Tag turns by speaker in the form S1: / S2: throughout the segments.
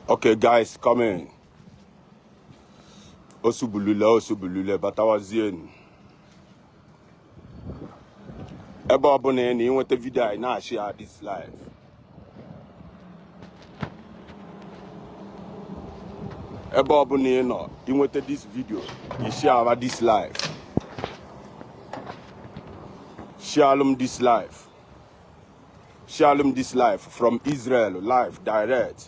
S1: Okay, guys, come in. Osubulule, Osubulule, Batawazienu. Ebe ọbụna ị na-enweta video a ị na-share this live. ebe ọbụna ị nọ i nweta this video ị share this live sharelụ m this live sharelụ m this live from Israel live direct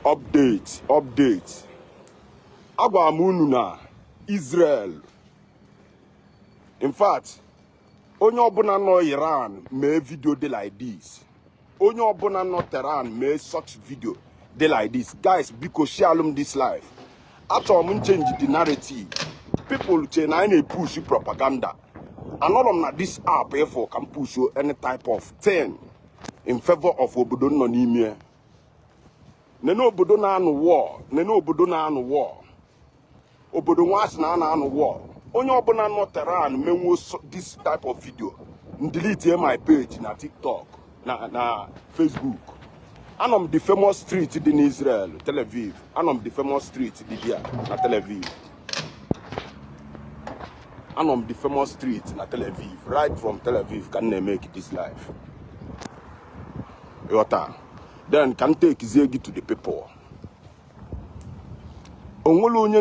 S1: update update agwa m unu na Israel in fact onye ọbụna nọ iran mee video dị like this onye ọbụna nọ tehran mee such video dị like this guys biko sharelụ m this live achọrọ m m change the narrative people che na anyị na-epush propaganda anọrọ m na this app ịfụ ka m push any type of thing in favor of obodo nọ n'ime nene obodo na-anụ war nene obodo na-anụ war obodo nwa a sị na a na-anụ war onye ọbụna nọ tehran menwuo this type of video delete my page na tiktok na na facebook anọ m the famous street dị n'israel tel aviv anọ m the famous street dị ebe a na tel aviv anọ m the famous street na tel aviv right from tel aviv ka m na-emake this live ị ghọta then ka m takezie gị to the people o nwere onye